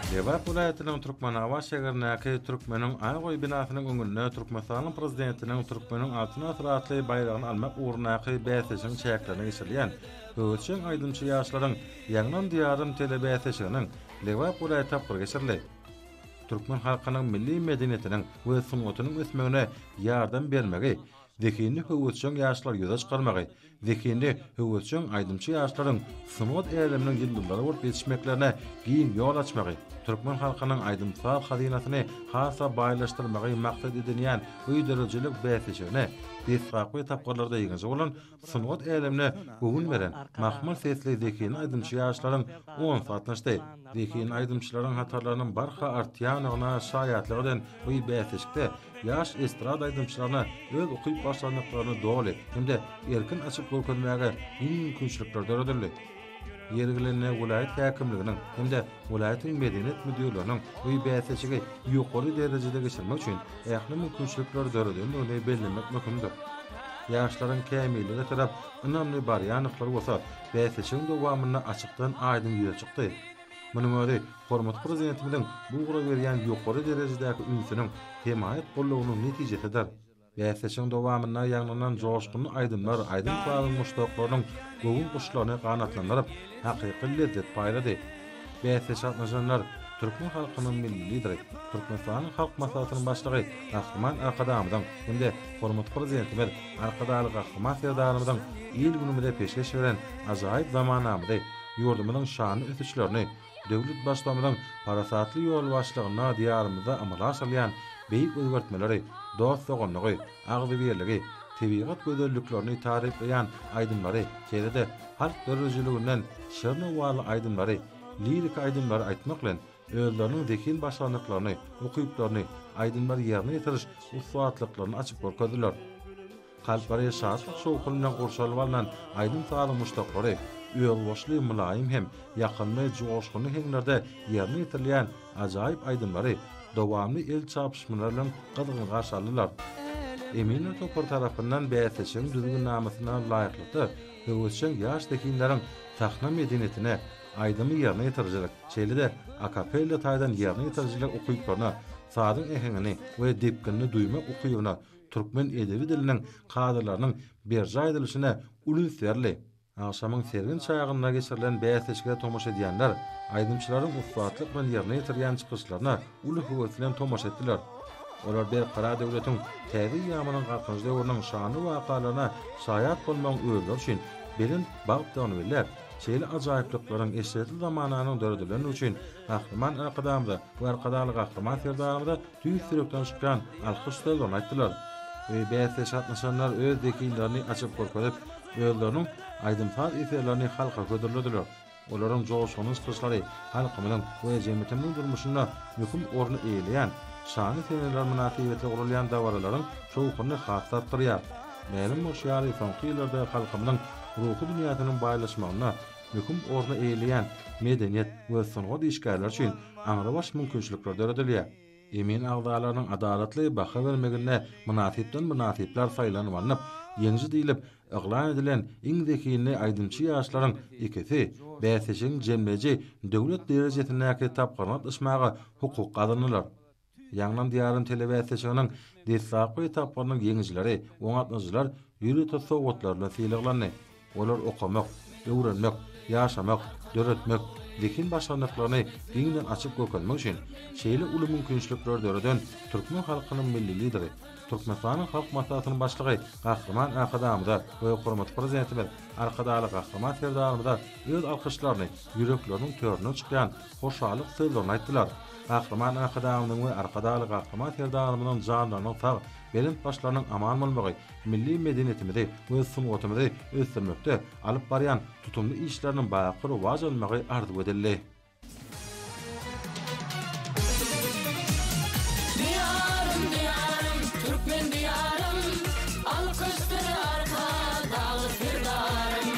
Lebap welaýatynyň Türkmenabat şäherindäki Türkmeniň aý goýy binasynyň öňünde Türkmenistanyň Prezidentiniň Türkmeniň Altyn asyry atly baýragyny almak ugrundaky bäsleşigiň çäklerinde geçirilýän Höwürçeň aýdymçy ýaşlaryň Ýaňlan Diýarym telebäsleşiginiň Lebap welaýaty tapgyry geçirildi. Türkmen halkynyň milli medeniýetiniň we sungatynyň ösmegine ýardam bermegi zehinli höwürçeň ýaşlary ýüze çykarmagy, Zehinli, höwesjeň aýdymçy ýaşlaryň sungat äleminiň ýyldyzlary bolup ýetişmeklerine giň ýol açmagy, türkmen halkynyň aýdym-saz hazynasyny has-da baýlaşdyrmagy maksat edinýän öýderijilik bäsleşigine desgapky tapgyrlarda ýeňiji bolan, sungat älemine göwün beren, mahmal sesli zehinli aýdymçy ýaşlaryň onsy gatnaşdy. Zehinli aýdymçylaryň hatarlarynyň barha artýandygyna şaýatlyk eden bu bäsleşikde ýaş estrada aýdymçylaryna öz ukyp-başarnyklaryny doly hem-de erkin açyp görkezmäge giň mümkinçilikler döredildi. Ýeri gelende welaýat häkimliginiň hem-de welaýatyň medeniýet müdirleriniň bu bäsleşigi ýokary derejede geçirmek üçin ähli mümkinçilikler döredendigini bellemek möhümdir. Ýaşlaryň kämillige tarap ynamly barýandyklary bolsa bäsleşigiň dowamynda açykdan-aýdyň ýüze çykdy. Munuň özi hormatly Prezidentimiziň bu ugra berýän ýokary derejedäki ünsüniň, hemaýat goldawynyň netijesidir. Bäsleşigiň dowamynda ýaňlanan joşgunly aýdymlar aýdym-sazyň muşdaklarynyň göwün guşlaryny ganatlandyryp, hakyky lezzet paýlady. Bäsleşige gatnaşanlar türkmen halkynyň Milli Lideri, Türkmenistanyň Halk Maslahatynyň Başlygy Gahryman Arkadagymyzyň hem-de hormatly Prezidentimiz Arkadagly Gahryman Serdarymyzyň il-günümize peşgeş beren ajaýyp zamanamyzy, ýurdumyzyň şanly ösüşlerini, döwlet Baştutanymyzyň parasatly ýolbaşçylygynda Diýarymyzda amala aşyrylýan beýik özgertmeleri, dost-doganlygy, agzybirligi, tebigat gözelliklerini taryplaýan aýdymlary, şeýle-de halk döredijiliginden şirin owazly aýdymlary, liriki aýdymlary aýtmak bilen, özleriniň zehin başarnyklaryny, ukyplaryny, aýdymlary ýerine ýetiriş ussatlyklaryny açyp görkezdiler. Kalplary şatlyk-şowhun bilen gurşalyp alnan aýdym-sazyň muşdaklary, özboluşly mylaýym hem ýakymly joşgunly heňlerde ýerine ýetirilýän ajaýyp aýdymlary dowamly el çarpyşmalar bilen gyzgyn garşy aldylar. Eminler topary tarapyndan bäsleşigiň düzgünnamasyna laýyklykda höwesjeň ýaş zehinleriň sahna medeniýetine, aýdymy ýerine ýetirijilik, şeýle-de akapella taýdan ýerine ýetirijilik ukyplaryna, sazyň äheňini we depginini duýmak ukybyna türkmen edebi diliniň kadalarynyň berjaý edilişine uly üns berli. Agşamyň sergin çagynda geçirilen bäsleşige tomaşa edýänler aýdymçylaryň ussatlyk bilen ýerine ýetirýän çykyşlaryna uly höwes bilen tomaşa etdiler. Olar Berkarar döwletiň täze eýýamynyň Galkynyş döwrüniň şanly wakalaryna şaýat bolmagyň özleri üçin belent bagtdygyny belläp, şeýle ajaýyplyklaryň eşretli zamananyň döredilendigi üçin Gahryman Arkadagymyza we Arkadagly Gahryman Serdarymyza tüýs ýürekden çykýan alkyş sözlerini aýtdylar. Bäsleşige gatnaşanlar öz zehinlerini açyp görkezip, özleriniň aýdym-saz eserlerini halka hödürlediler. Olaryň joşgunly çykyşlary halkymyzyň we jemgyýetimiziň durmuşynda möhüm orny eýeleýän şanly seneler mynasybetli guralýan dabaralaryň şowhunyny has-da artdyrýar. Mälim bolşy ýaly, soňky ýyllarda halkymyzyň ruhy dünýäsiniň baýlaşmagynda möhüm orny eýeleýän medeniýet we sungat işgärleri üçin aňrybaş mümkinçilikler döredilýär. Emin agzalarynyň adalatly baha bermeginde mynasypdan mynasyplar saýlanylanyp, ýeňiji diýlip yglan edilen iň zehinli aýdymçy ýaşlaryň ikisi bäsleşigiň jemleýji döwlet derejesindäki tapgyryna gatnaşmaga hukuk gazandylar. Ýangnan diýarym telebäsleşiginiň deslapky etaplarynyň ýeňijileri, oňatmaçylar ýörite sowgatlar bilen sylaglandy. Olar okamak, öwrenmek, ýaşamak, döretmek, zehin başarnyklaryny giňden açyp görkezmek üçin şeýle uly mümkinçilikleri döreden türkmen halkynyň Milli Lideri, Türkmenistanyň Halk Maslahatynyň Başlygy Gahryman Arkadagymyza we hormatly Prezidentimiz Arkadagly Gahryman Serdarymyza öz alkyşlaryny ýürekleriniň töründen çykýan hoşallyk sözlerini aýtdylar. Gahryman Arkadagymyzyň we Arkadagly Gahryman Serdarymyzyň janlarynyň sag, belent başlarynyň aman bolmagy milli medeniýetimizi we sungatymyzy ösdürmekde alyp barýan tutumly işleriniň baky rowaç almagy arzuw edildi. Diýarym, Diýarym, Türkmen Diýarym, Alkyşdyr Arkadagly Serdarym.